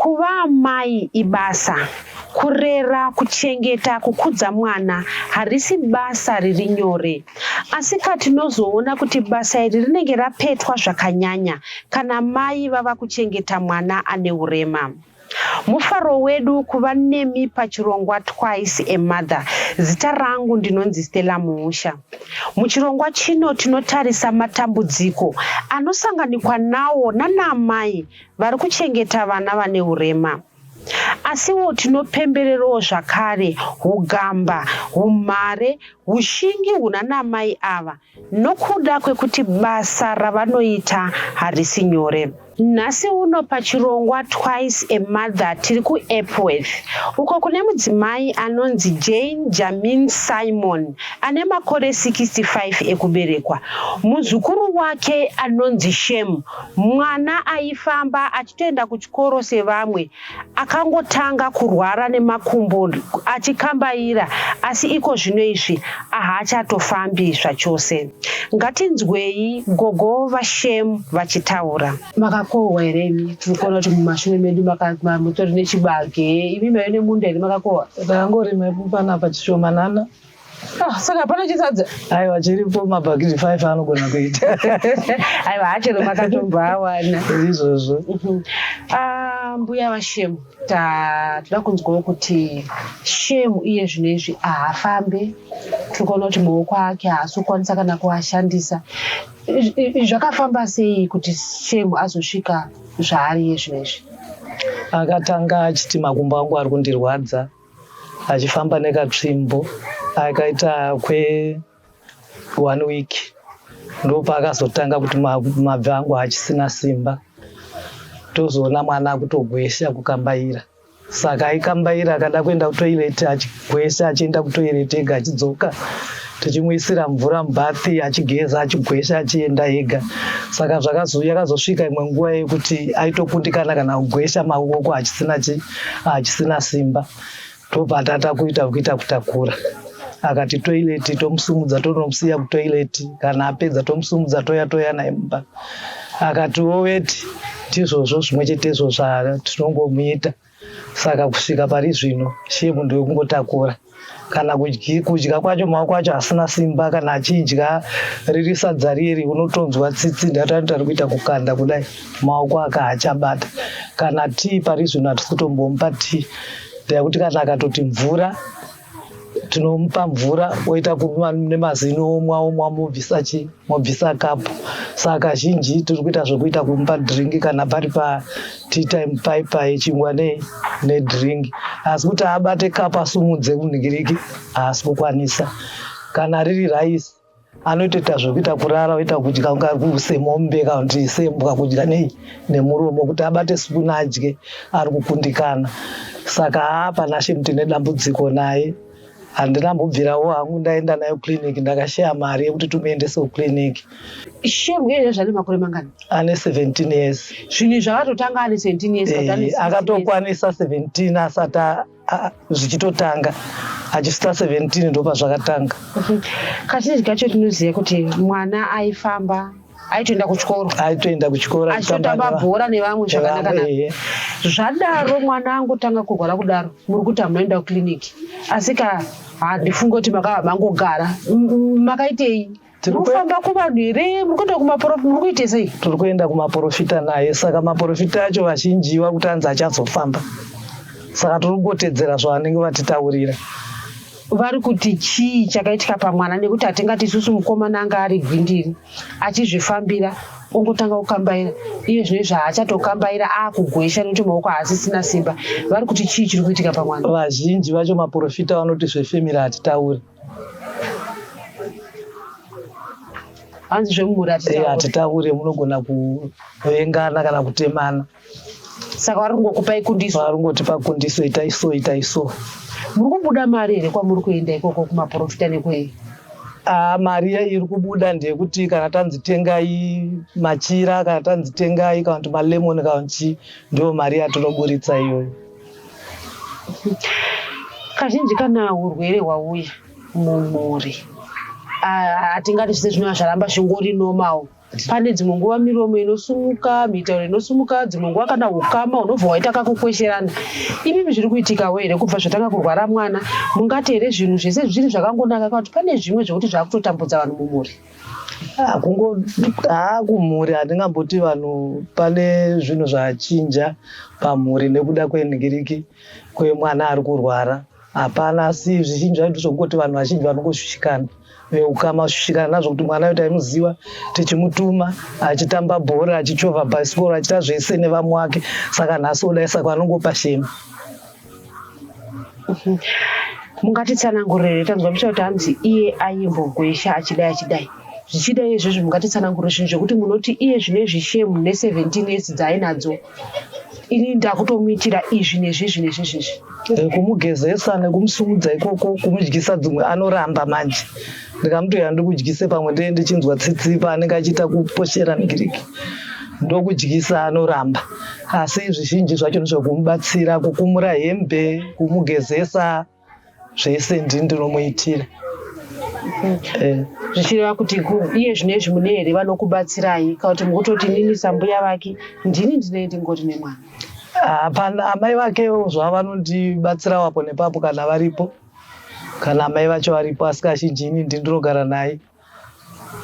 Kuva amai ibasa. Kurera, kuchengeta, kukudza mwana harisi basa riri nyore. Asika tinozoona kuti basa iri rinenge rapetwa zvakanyanya kana mai vava kuchengeta mwana ane urema. Mufaro wedu kuva nemi pachirongwa Twice a Mother. Zita rangu ndinonzi Stella Muusha. Muchirongwa chino tinotarisa matambudziko anosanganikwa nawo nanaamai vari kuchengeta vana vane urema. Asiwo tinopembererowo zvakare hugamba, humhare, hushingi hunanaamai ava nokuda kwekuti basa ravanoita harisi nyore. Nhasi uno pachirongwa Twice a Mother tiri kuEpworth uko kune mudzimai anonzi Jane Jamin Simon ane makore 65 ekuberekwa. Muzukuru wake anonzi Shem, mwana aifamba achitoenda kuchikoro sevamwe Akangotanga kurwara nemakumbo achikambaira asi iko zvino izvi ahaachatofambi zvachose. Ngatinzwei gogo vaShem vachitaura. Makakohwa here imi? Mukaona kuti mumashure medu mutori nechibage imi maive nemunda here makakohwa? Takangorima panapa chishomanana Ah, saka hapana chisadza aiwa chiripo mabhakiti five anogona kuita aiwa hachero makatobva awana izvozvo mhm. ah, mbuya vashemu toda kunzwawo kuti shemu iye zvino izvi haafambe tiri kuona kuti maoko ake haasi kukwanisa kana kuashandisa zvakafamba sei kuti shemu azosvika zvaari iye zvino izvi akatanga achiti makumbo angu ari kundirwadza achifamba nekatsvimbo akaita kwe one week ndopaakazotanga kuti mabvi angu haachisina simba tozoona mwana akutogwesha kukambaira saka aikambaira akada kuenda kutoireti achigwesha achienda kutoireti ega achidzoka tichimuisira mvura mubathi achigeza achigwesha achienda ega saka yakazosvika imwe nguva yekuti aitokundikana kana kugwesha maoko achisina chi achisina simba tobvatata kuita kuita kutakura akati toileti tomusumudza tonomusiya kutoileti kana apedza tomusumudza toya toya naye mumba akati woweti ndizvozvo zvimwe chetezvo zvatinongomuita saka kusvika pari zvino shepu ndoyokungotakura kana kudya kwacho maoko acho asina simba kana achidya riri sadza riri unotonzwa tsitsi ndatanoita ari kuita kukanda kudai maoko aka haachabata kana tii pari zvino hatisi kutombomupa tii ndayakuti kana akatoti mvura tinomupa mvura oita kunwa nemazino omwa omwa mobvisa chi mobvisa kapu saka zhinji tiri kuita zvekuita kumupa dhiringi kana pari patea time paipa yechingwa nedhiringi asi kuti abate kapu asumudze munhikiriki haasi kukwanisa kana riri raisi anotoita zvekuita kurara oita kudya kunga semombe kana kuti sembwa kudya nei nemuromo kuti abate sipuna adye ari kukundikana saka haa panashem tine dambudziko naye handina mbobvirawo hangu ndaenda nayo clinic ndakashaya mari yekuti tumuendesewo clinic shem uyezve zvane makore mangani ane 17 years zvinhu izvi akatotanga ane 17 years eh, akatokwanisa 17 asati Ah, zvichitotanga achista 17 ndopa zvakatanga mhm. kazhinji kacho tinoziva kuti mwana aifamba aitoenda kuchikoro aitoenda kuchikoro achitotamba bhora nevamwe zvakanakaa zvadaro mwana angotanga kurwara kudaro muri kuti hamunoenda kuclinic asi ka handifunge kuti makava mangogara makaitei tirikufamba kuvanhu here murikuenda kumaporofita muri kuite sei tiri kuenda kumaporofita naye saka maporofita acho vazhinji vakuti anzi achazofamba saka tiri kungotedzera zvavanenge vatitaurira vari kuti chii chakaitika pamwana nekuti hatingati isusu mukomana anga ari gwindiri achizvifambira ongotanga kukambaira iye zvine zvaachatokambaira akugwesha nekuti maoko haasisina simba vari kuti chii chiri kuitika pamwana vazhinji vacho maporofita vanoti zvefemiri hatitauri hanzi zvemumhuri hatitaure eh, munogona kuvengana kana kutemana saka vari kungokupai kundiso vari kungotipa kundiso itai so itai so muri kubuda mari here kwamuri kuenda ikoko kumaprofita nekwei Ah, mari yayo iri kubuda ndeyekuti kana tanzi tengai machira kana tanzi tengai kana kuti malemon kana kuti chii ndiyo mari yatinoburitsa iyoyo Kazhinji kana urwere hwauya mumhuri hatingati zvese zvinova zvaramba zvingori normal pane dzimwe nguva miromo inosumuka mitauro inosumuka dzimwe nguva kana ukama unobva waita kakukwesherana imimi zviri kuitikawo here kubva zvatanga kurwara mwana mungati here zvinhu zvese zviri zvakangonaka kana kuti pane zvimwe zvekuti zvakutotambudza vanhu mumhuri haa kumhuri handingamboti vanhu pane zvinhu zvachinja pamhuri nekuda kwenhingiriki kwemwana ari kurwara hapana asi zvizhinji zvaito zvokungoti vanhu vazhinji vanongoshushikana veukama kushushikana nazvo kuti mwana yoita imuziva tichimutuma achitamba bhora achichovha bhasikoro achita zvese nevamwe wake saka nhasi odaisako anongopa shema mungatitsanangurire tanzwa muchita kuti hanzi iye aimbogwesha achidai achidai zvichida izvozvo mungatitsanangurire zvinhu zvekuti munoti iye zvine zvishemu ne17 years dzaainadzo ini ndakutomuitira izvi nezvizvi nezvizvizvi eh, kumugezesa nekumusumudza ikoko kumudyisa dzimwe anoramba manje ndikamuti uya ndikudyise pamwe ndee ndichinzwa tsitsi paanenge achiita kuposhera migiriki ndokudyisa anoramba asi zvizhinji zvacho ndizvekumubatsira kukumura hembe kumugezesa zvese ndini ndinomuitira Eh, zvichireva kuti ku- iye zvino izvi mune here vanokubatsirai kana kuti mukutoti nini sambuya vake ndini ndine ndingori nemwana hapana amai vakewo zvavo vanondibatsirawo apo nepapo kana varipo kana amai vacho varipo asi kazhinji ini ndindirogara naye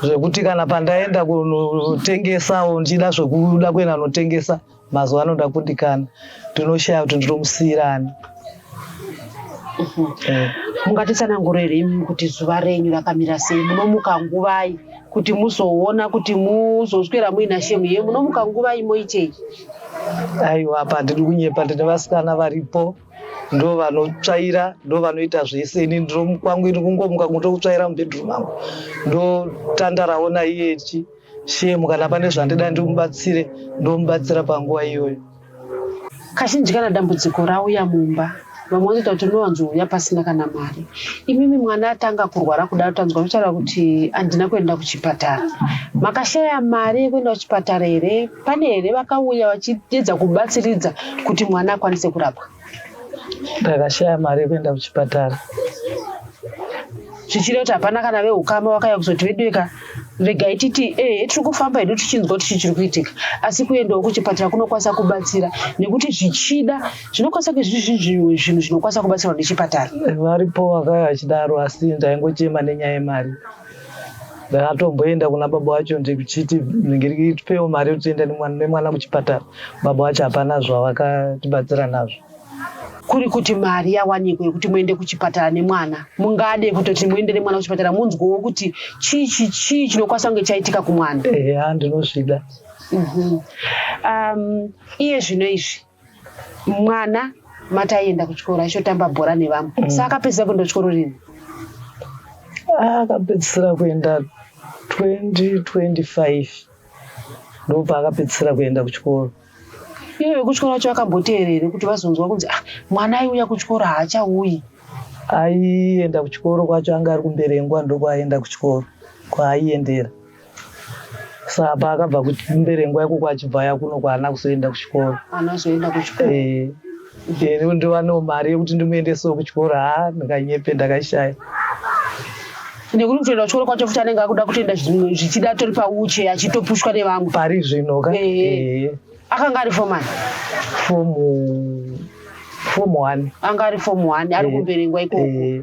zvekuti kana pandaenda kunotengesawo ndichida zvekuda kuenda kunotengesa mazuva ano ndakundikana ndinoshaya kuti ndinomusiyirani eh. mungatitsanangurire imi kuti zuva renyu rakamira sei munomuka nguvai kuti muzoona kuti muzoswera muina shemu ye munomuka nguvai moitei aiwa apa handidi kunyepa ndine vasikana varipo ndo vanotsvaira ndo vanoita zvese ini ndiro kwangu ini kungomuka kungotokutsvaira mubedroom mangu ndotandarawo naiye ichi shemu kana pane zvandida ndimubatsire ndomubatsira panguva iyoyo kazhinji kana dambudziko rauya mumba vamwe vanoita kuti unowanzouya pasina kana mari imimi mwana atanga kurwara kudaro tanzwa kutaura kuti handina kuenda kuchipatara makashaya mari yekuenda kuchipatara here Pane here vakauya vachiedza kubatsiridza kuti mwana akwanise kurapwa? Ndakashaya mari yekuenda kuchipatara. Zvichireva kuti hapana kana vehukama vakauya kuzoti veduweka regai titi ee eh, tiri kufamba hedu tichinzwa kuti chii chiri kuitika asi kuendawo kuchipatara kunokwanisa kubatsira nekuti zvichida zvinokwanisa kuzvizvizvimwe zvinhu zvinokwanisa kubatsirwa nechipatara varipo vakauya vachidaro asi ndaingochema nenyaya yemari ndakatomboenda kuna baba wacho ndichiti ngiritipewo mari yekuti tienda nemwana kuchipatara baba wacho hapana zvavakatibatsira nazvo kuri kuti mari yawanikwa yekuti muende kuchipatara nemwana mungade kutoti muende nemwana kuchipatara munzwewo kuti chii chii chinokwanisa kunge chaitika kumwana eya ndinozvida mhm. um, iye zvino izvi mwana mati aienda kuchikoro aishotamba bhora nevamwe mm. sa akapedzisa kuenda kuchikoro rini ah, akapedzisira kuenda 2025 ndopaakapedzisira kuenda kuchikoro iye vekuchikoro vacho vakamboteera here kuti vazonzwa kunzi ah, mwana aiuya kuchikoro haachauyi aienda kuchikoro kwacho anga ari kumberengwa ndokwaienda kuchikoro kwaaiendera saa paakabva kumberengwa ikoko achibva aya kuno kwaana kuzoenda kuchikoro anazoenda kuchikoro Eh, ini ndivanewo mari yekuti ndimuendesewo kuchikoro haa ndakanyepe ndakashaya nekuti kutoenda kuchikoro kwacho futi anenge akuda kutoenda zvi- zvichida atori pauche achitopushwa nevamwe pari zvino ka Eh. Eh, akanga ari fomani fomu fomu one anga ari fomu one ari Eh. kumberengwa ikoko Eh,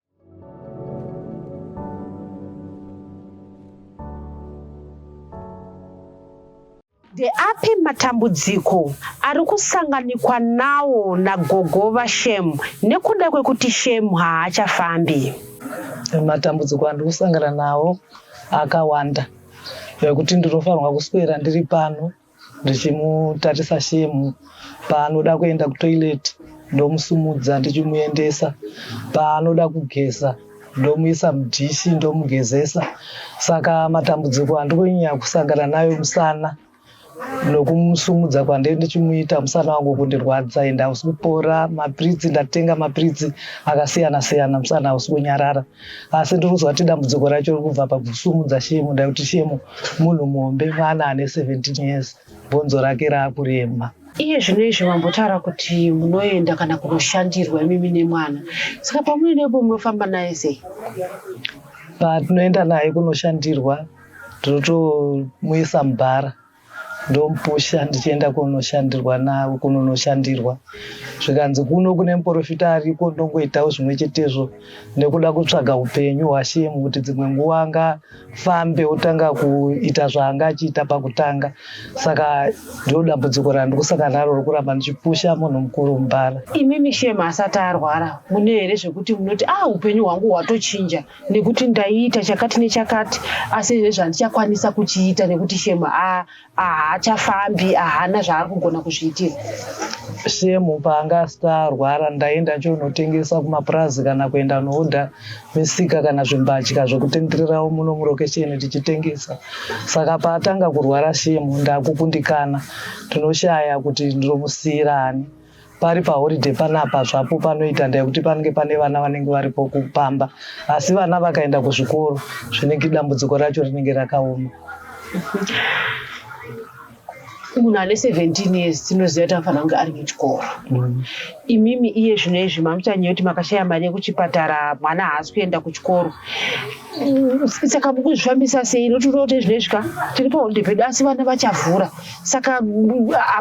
Ndeapi matambudziko ari kusanganikwa nawo nagogo vaShem nekuda kwekuti Shem haachafambi? Matambudziko andiri kusangana nawo akawanda zvekuti ndinofanirwa kuswera ndiri pano ndichimutarisa shemu paanoda kuenda kutoilet ndomusumudza ndichimuendesa paanoda kugeza ndomuisa mudhishi ndomugezesa saka matambudziko andikunyanya kusangana nayo musana nokumusumudza kwandee ndichimuita musana wangu kundirwadza ende hausi kupora mapiritsi ndatenga mapiritsi akasiyana siyana musana hausi kunyarara asi ndiri kuzwa kuti dambudziko racho riri kubva pakusumudza shemu nda kuti shemu munhu muhombe mwana ane 17 years bhonzo rake raakurema iye zvino izvi vambotaura kuti munoenda kana kunoshandirwa imimi nemwana saka pamunoendepo munofamba naye sei patinoenda naye kunoshandirwa tinotomuisa mubhara ndomupusha ndichienda kunoshandirwa navo kunonoshandirwa zvikanzi kuno kune muporofita ariko ndongoitawo zvimwe chetezvo nekuda kutsvaga upenyu hwashemu kuti dzimwe nguva angafambe otanga kuita zvaanga achiita pakutanga saka ndiro dambudziko randikusaka naro rokuramba ndichipusha munhu mukuru mubhara imimi shemu asati arwara mune here zvekuti munoti a ah, upenyu hwangu hwatochinja nekuti ndaiita chakati nechakati asi izvezvi handichakwanisa kuchiita nekuti shemu haachafambi ahana zvaari kugona kuzviitira shemu paanga asita arwara ndaienda chonotengesa kumapurazi kana kuenda nooda misika kana zvimbatya zvekutendererawo muno murokesheni tichitengesa saka paatanga kurwara shemu ndakukundikana ndinoshaya kuti ndinomusiyira ani pari paholiday panapa zvapo panoita ndayekuti panenge pane vana vanenge varipo kupamba asi vana vakaenda kuzvikoro zvinenge dambudziko racho rinenge rakaoma munhu ane 17 years tinoziva kuti anofanira kunge ari muchikoro mm. imimi iye zvino izvi mamuchanyaya kuti makashaya mari yekuchipatara mwana haasi kuenda kuchikoro saka mukuzvifambisa sei notiroti zvino izvi ka tiri paholiday pedu asi vana vachavhura saka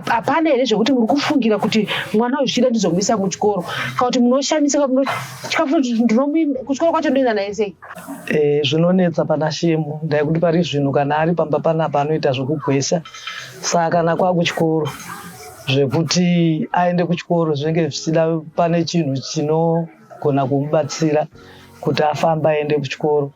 hapana here zvekuti muri kufungira kuti mwana uyu zvichida ndizomuisa kuchikoro kana kuti munoshamisa kuchikoro kwacho ndoenda naye sei eh, zvinonetsa pana shemu ndai kuti pari zvinhu kana ari pamba panapa anoita zvekugwesha saka kana kwakuchikoro zvekuti aende kuchikoro zvinenge zvichida pane chinhu chinogona kumubatsira kuti afamba aende kuchikoro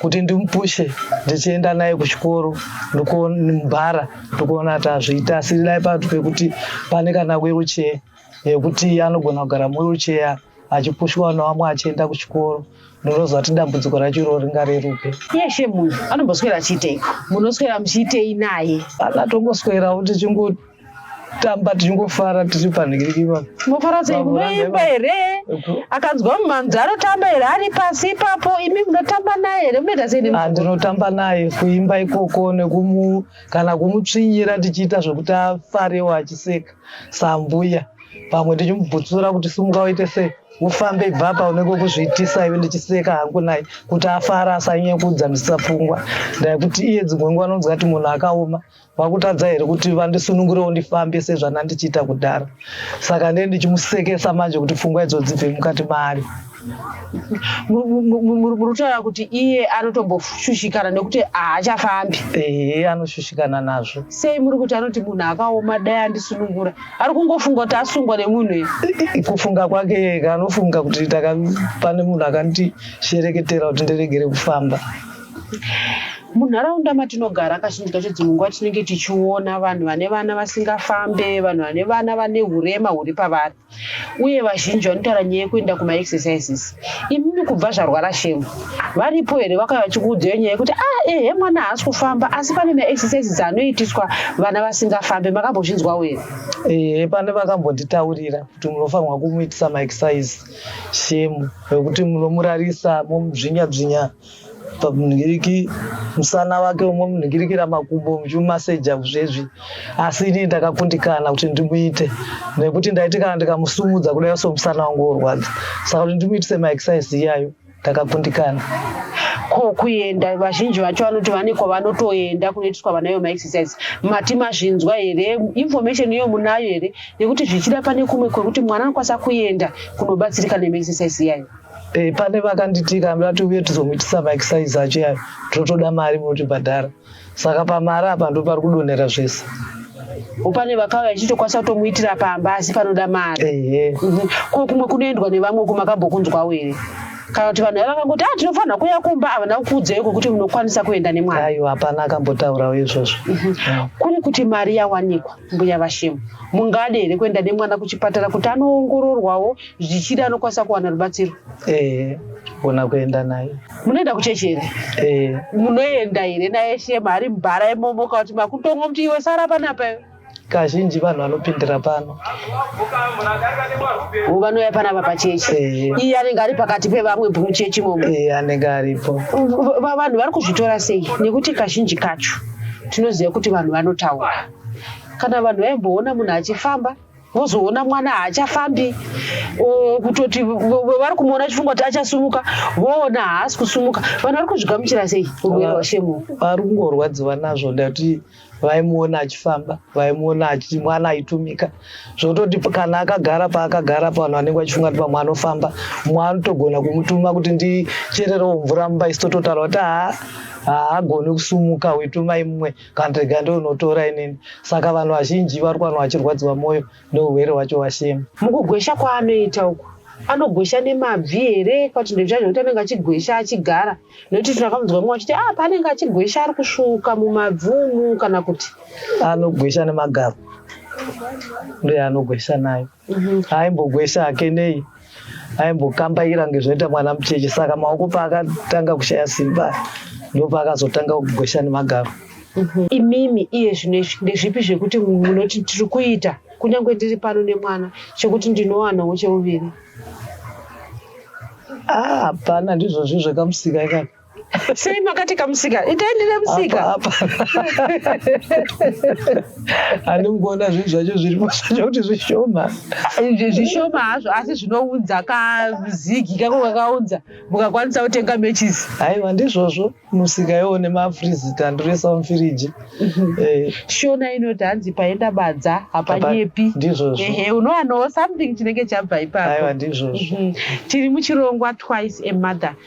kuti ndimupushe ndichienda naye kuchikoro ndikumbara ndikuona kuti azviita asi dai patu pekuti pane kana wiruchee yekuti anogona kugara muwiruchee achipushwa navamwe achienda kuchikoro ndinoziva kuti dambudziko racho iroro ringareruke yeshe munhu anomboswera achiitei munoswera muchiitei naye anatongoswerawo tichingo tamba tichingofara tiri panhingiriki ipapo mofara sei kunoimba here akanzwa mumhanzi anotamba here ari pasi ipapo imi munotamba naye here munoita sei ah, ndinotamba naye kuimba ikoko nekumu kana kumutsvinyira tichiita zvekuti afarewo achiseka sambuya pamwe tichimubvutsura kuti simuka uite sei ufambe ibva apa unenge ukuzviitisa iwe ndichiseka hangu naye kuti afara asanyekudza ndisapfungwa ndaikuti iye dzimwe nguva anonzwa kuti munhu akaoma vakutadza here kuti vandisunungurewo ndifambe sezvandandichiita kudhara saka ndee ndichimusekesa manje kuti pfungwa idzo dzibve mukati maari murutaura kuti iye anotomboshushikana nekuti haachafambi ehe anoshushikana nazvo sei muri kuti anoti munhu akaoma dai andisunungura ari kungofunga kuti asungwa nemunhu iye kufunga kwake yeka anofunga kuti pane munhu akandishereketera kuti ndiregere kufamba Munharaunda matinogara kazhinji kacho dzimwe nguva tinenge tichiona vanhu vane vana vasingafambe, vanhu vane vana vane hurema huri pavari, uye vazhinji vanotaura nyaya yekuenda kumaexercises. Imimi kubva zvarwara shemu, varipo here vakauya vachikuudzai nyaya yekuti ah, ehe mwana haasi kufamba asi pane maexercises dzanoitiswa vana vasingafambe, makambozvinzwawo here? Ehe, pane vakambonditaurira kuti munofanirwa kumuitisa maexercise shemu, vekuti munomurarisa momubzvinya bzvinya pamunhingiriki musana wake umwe munhingirikira makumbo muchimumaseja kuzvezvi asi inini ndakakundikana kuti ndimuite nekuti ndaiti kana ndikamusumudza kudai so musana wangu worwadza saka kuti ndimuitise maexercise iyayo ndakakundikana ko kuenda vazhinji vacho vanoti vane kwavanotoenda kunoitiswa vanayo maexercise mati mazvinzwa here information iyo munayo here nekuti zvichida pane kumwe kwekuti mwana anokwanisa kuenda kunobatsirika nemaexercise iyayo Eh, pane vakanditika vati uye tizomuitisa maexercise acho yayo totoda mari motibhadhara saka pamari apa ndo pari kudonhera zvese upane vakauya ichitokwanisa kutomuitira pamba asi panoda mari mhm. ko kumwe kunoendwa nevamwe ku makambokunzwawo here kana kuti vanhu vakangoti a ah, tinofanira kuuya kumba havana kukuudzai kwekuti munokwanisa kuenda nemwana aiwa hapana akambotaurawo izvozvo mhm. kuri kuti mari yawanikwa mbuya vashemu mungade here kuenda nemwana kuchipatara kuti anoongororwawo zvichida anokwanisa kuwana rubatsiro eh ona kuenda naye munoenda kuchechi here eh munoenda here naye shema ari mubhara imomo ukati makutongo muti iwe sara panapa iwe kazhinji vanhu vanopindira pano Wo vanouya panapa pachechi Eh. iye anenge ari pakati pevamwe muchechi imomo eh anenge aripo Va- va- vanhu vari kuzvitora sei nekuti kazhinji kacho tinoziva kuti vanhu vanotaura kana vanhu vaimboona munhu achifamba vozoona mwana haachafambi kutoti vari kumuona chifunga kuti achasumuka voona haasi kusumuka vanhu vari kuzvigamuchira sei urwere hwashemo vari kungorwadziwa nazvo ndati vaimuona achifamba vaimuona achiti mwana aitumika zvototi kana akagara paakagara pavanhu vanenge vachifunga kuti pamwe anofamba mwana anotogona kumutuma kuti ndichererewo mvura mumba isitototaura kuti haa haagoni kusumuka uitumai mumwe kandega ndounotora inini saka vanhu vazhinji vari kuvanhu vachirwadziwa mwoyo neurwere hwacho washema mukugwesha kwaanoita uku anogwesha nemabvi here kwati ndozva zvekuti anenge achigwesha achigara nekuti tinakamudza mwe achiti ah paanenge achigwesha ari kusvuka mumabvumu kana kuti anogwesha nemagaro ndoyaanogwesha nayo mhm. aimbogwesha hake nei aimbokambaira kunge zvinoita mwana mucheche saka maoko paakatanga kushaya simba ndopaakazotanga kugwesha nemagaro mhm. imimi iye zvino izvi ndezvipi zvekuti munoti tiri kuita kunyange ndiri pano nemwana chekuti ndinowanawo cheuviri ah, hapana ndizvozvi zvakamusika ikaka sei makati kamusika itai ndine musika andingoona zvinhu zvacho zviripo zvacho kuti zvishoma zvishoma hazvo asi zvinounza kazigi kako kakaunza mukakwanisa kutenga matches haiwa ndizvozvo musika iwo nemafrizita ndoresa mufiriji mhm. eh. shona inoti hanzi paenda badza hapanyepi ndizvozvo ehe unowanoo something chinenge chabva ipapo aiwa ndizvozvo mhm. tiri muchirongwa twice a mother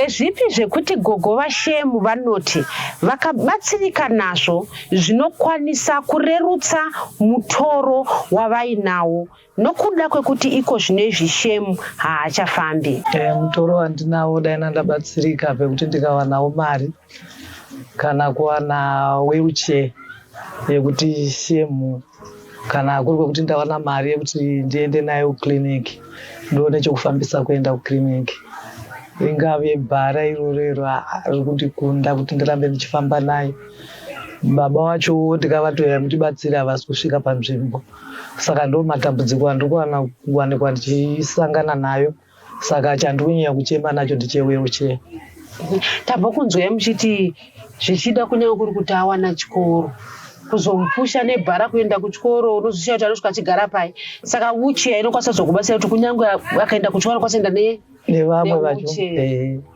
Ndezvipi zvekuti gogo vaShemu vanoti vakabatsirika nazvo zvinokwanisa kurerutsa mutoro wavainawo nokuda kwekuti iko zvino izvi Shemu haachafambi? Eh, mutoro wandinawo dai ndandabatsirika pekuti ndikawanawo mari kana kuwana wheelchair yekuti shemu kana kuri kwekuti ndawana mari yekuti ndiende nayo kuclinic ndione chekufambisa kuenda kuclinic ringave bhara iroro iro riri kundikunda kuti ndirambe ndichifamba nayo baba wacho ndikavatoya mutibatsira havasi kusvika panzvimbo saka ndo matambudziko andiri kuwana kuwanikwa ndichisangana nayo saka chandikunyanya kuchema nacho ndichewheelchair tabva kunzwai muchiti zvichida kunyange kuri kuti awana chikoro kuzomupusha nebhara kuenda kuchikoro unozoshiya kuti anosvika achigara pai saka wuchiya inokwanisa kuzokubatsira kuti kunyange akaenda kuchikoro anokwanisa kuenda nevamwe vacho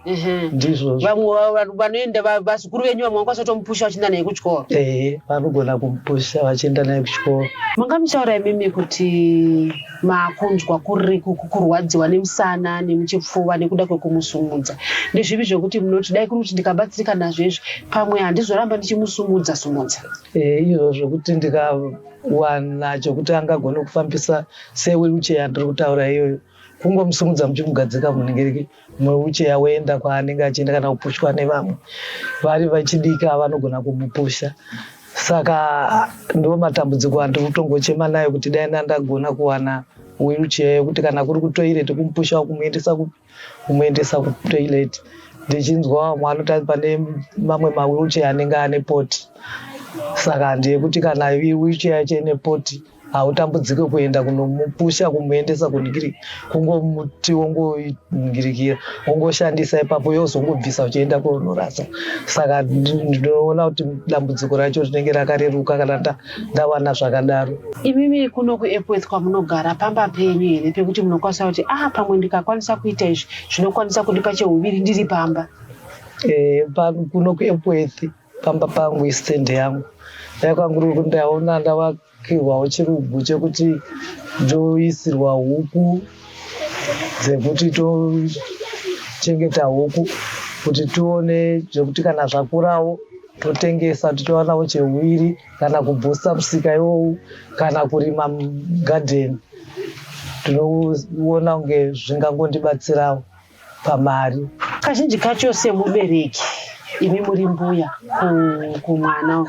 Ehe. ndizvozvo vamwe va- va- vanoenda va- vazukuru venyu vamwe vakwanisa kutomupusha vachienda naye kuchikoro ehe vanogona kumupusha vachienda naye kuchikoro manga muchaura imimi kuti makunzwa kuri ku- ku- kurwadziwa nemusana nemuchipfuva nekuda kwekumusumudza ndezvipi zvekuti munoti dai kuri kuti ndikabatsirika nazvo izvi pamwe handizoramba ndichimusumudza sumudza Eh, izvo zvekuti ndikawana chekuti angagone kufambisa sewheelchair ndiri kutaura iyoyo kungomusimudza muchimugadzika munenge muwucheya woenda kwaanenge achienda kana kupushwa nevamwe vari vachidika vanogona kumupusha saka ndo matambudziko andiri kutongochema nayo kuti dai ndandagona kuwana wheelchair yekuti kana kuri kutoilet kumupusha kumuendesa kupi kumuendesa kutoilet ndichinzwa vamwe vanotati pane mamwe mawheelchair anenge ane poti saka ndeyekuti kana wheelchair yacho ine poti hautambudzike kuenda kunomupusha kumuendesa kuningirika kungomuti wongoningirikira wongoshandisa ipapo yozongobvisa uchienda koonorasa saka ndinoona kuti dambudziko racho rinenge rakareruka kana ndawana zvakadaro imimi kuno kuepworth kwamunogara pamba penyu here pekuti munokwanisa kuti ah pamwe ndikakwanisa kuita izvi zvinokwanisa kundipa cheuviri ndiri pamba eh, kuno kuepworth pamba pangu istand yangu dai kwanguri kuti ndaona ndavakirwawo chirubhu chekuti ndoisirwa huku dzekuti tochengeta huku kuti tione zvekuti kana zvakurawo totengesa tichionawo chewiri kana kubhusta musika iwowu kana kurima gadheni tinoona kunge zvingangondibatsirawo pamari kazhinji kacho semubereki imi muri mbuya kumwana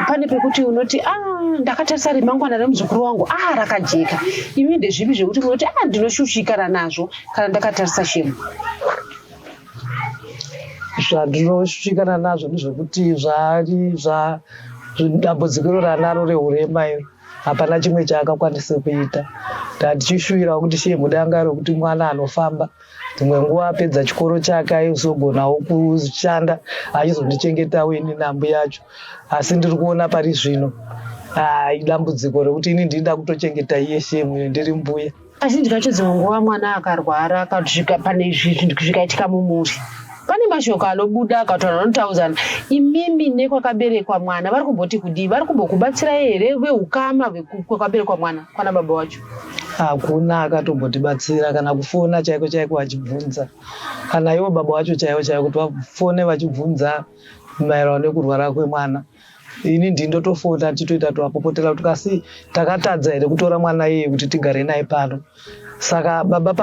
pane pekuti unoti a ah, ndakatarisa remangwana remuzukuru wangu a ah, rakajeka imi ndezvipi zvekuti munoti a ah, ndinoshushikana nazvo kana ndakatarisa shemu zvandinoshushikana nazvo ndezvekuti zvaari zva dambudziko iro ranaro rehurema iro hapana chimwe chaakakwanisa kuita tatichishuvirawo kuti shee mudangaro kuti mwana anofamba dzimwe nguva apedza chikoro chake aizogonawo kushanda achizondichengetawo ini nambu yacho asi ndiri kuona pari zvino idambudziko rekuti ini ndinda kutochengeta iye shee mwine ndiri mbuya Kazhinji kacho dzimwe nguva mwana akarwara akasvika pane izvi zvinhu zvikaitika mumhuri pane mashoko anobuda akataura anotaudzana imimi nekwakaberekwa mwana vari kumboti kudii vari kumbokubatsira here veukama kwakaberekwa mwana kwana baba wacho hakuna akatombotibatsira kana kufona chaiko chaiko vachibvunza kana ivo baba wacho chaivo chaivo kuti vafone vachibvunza maererano nekurwara kwemwana ini ndii ndotofota tichitoita twakupotera kuti kasi takatadza here kutora mwana iye kuti tigare naye pano saka baba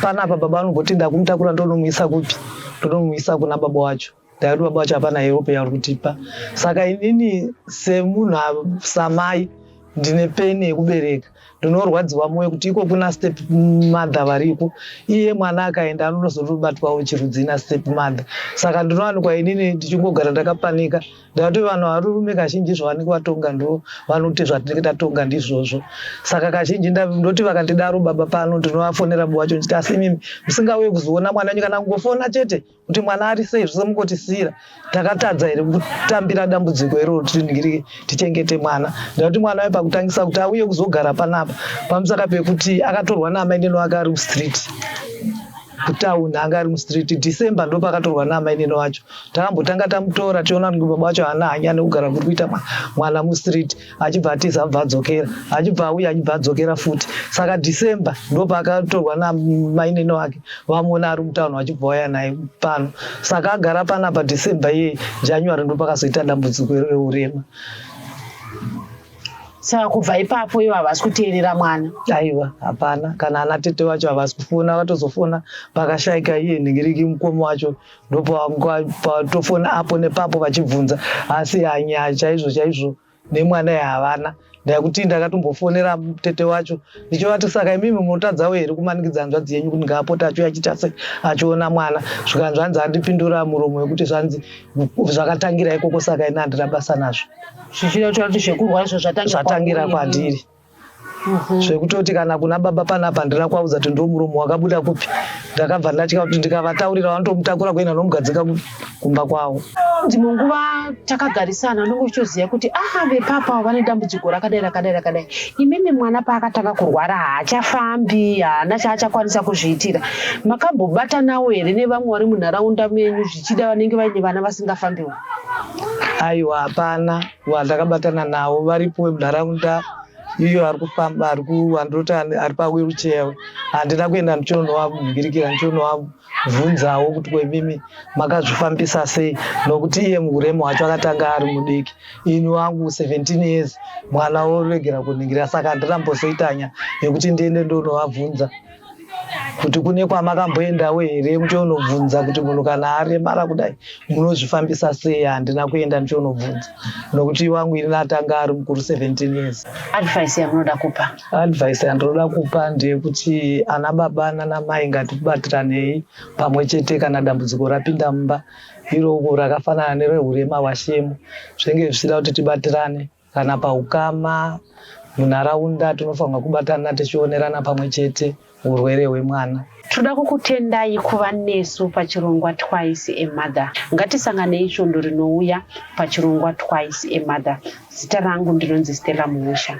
panapa baba vanomboti ndakumutakura ndonomuisa kupi ndonomuisa kuna baba wacho ndaikuti baba wacho hapana europe yauri kutipa saka inini semunhu samai ndine peni yekubereka ndinorwadziwa moyo kuti iko kuna step mother variko iye mwana akaenda anonozotobatwawo chirudzi ina step mother saka ndinowanikwa inini ndichingogara ndakapanika ndakuti vanhu varurume kazhinji zvavanenge vatonga ndo vanote zvatinenge tatonga ndizvozvo saka kazhinji ndoti vakandidaro baba pano ndinovafonera bo wacho ndichiti asi imimi musingauye kuzoona mwana wenyu kana kungofona chete kuti mwana ari sei zvose mukotisiira takatadza here kutambira dambudziko iroro tiningirike tichengete mwana ndakuti mwana waye pakutangisa kuti auye kuzogara panapa pamusaka pekuti akatorwa naamaineno ake ari mustreet kutauni anga ari mustreet december ndo pakatorwa naamaineno wacho takambotanga tamutora tiona kuti baba wacho haana hanya nekugara kuri kuita mwana mustreet achibva atiza abva adzokera achibva auya achibva adzokera futi saka december ndopaakatorwa namainini wake vamuona ari mutauni vachibva waya naye pano saka agara pana pa december iye january ndopakazoita dambudziko reurema saka kubva ipapo ivo havasi kuteerera mwana aiwa hapana kana ana tete vacho havasi kufona vatozofona pakashaika iye nhingiriki mukoma wacho ndopatofona apo nepapo vachibvunza asi hanyaya chaizvo chaizvo nemwana yahavana ndakuti ndakatombofonera tete wacho ndichovati saka imimi munotadzawo here kumanikidza hanzvadzi yenyu kuti ngaapote achiuya achiita se achiona mwana zvikanzi hanzi andipindura muromo wekuti zvanzi zvakatangira ikoko saka ini handina basa nazvo zvichireva kuti zvekurwa izvo zvatangira kwandiri Mhm. zvekutoti kana kuna baba panapa handina kuvaudza kuti ndo muromo wakabuda kupi ndakabva ndatya kuti ndikavataurira vanotomutakura kuenda nomugadzika kumba kwavo ndimwe nguva takagarisana ndonge uchitoziva kuti aha vepapa vane dambudziko rakadai rakadai rakadai imimi mwana paakatanga kurwara haachafambi haana chaachakwanisa kuzviitira makambobatanawo here nevamwe vari munharaunda menyu zvichida vanenge vaine vana vasingafambiwo aiwa hapana Vanhu takabatana navo varipo vemunharaunda iyo ari kufamba ari kuwandoti ari pawheelchair handina kuenda ndichonowamubirikira ndichonowabvunzawo kuti kwemimi makazvifambisa sei nokuti iye muuremu wacho akatanga ari mudiki ini wangu 17 years mwana woregera kuningira saka handina mbozoitanya yekuti ndiende ndonovabvunza kuti kune kwamakamboendawo here muchionobvunza kuti munhu kana aremara kudai munozvifambisa sei handina kuenda ndichionobvunza nokuti wangu ini atanga ari mukuru 17 years advice yamunoda kupa advice yandinoda kupa ndeyekuti ana baba nanamai ngatibatiranei pamwe chete kana dambudziko rapinda mumba iroko rakafanana nerehurema hwashemu zvenge zvichida kuti tibatirane Kana paukama munharaunda tinofanirwa kubatana tichionerana pamwe chete urwere hwemwana. Tinoda kukutendai kuva nesu pachirongwa Twice a Mother. Ngatisanganei svondo rinouya pachirongwa Twice a Mother. Zita rangu ndinonzi Stella Muusha.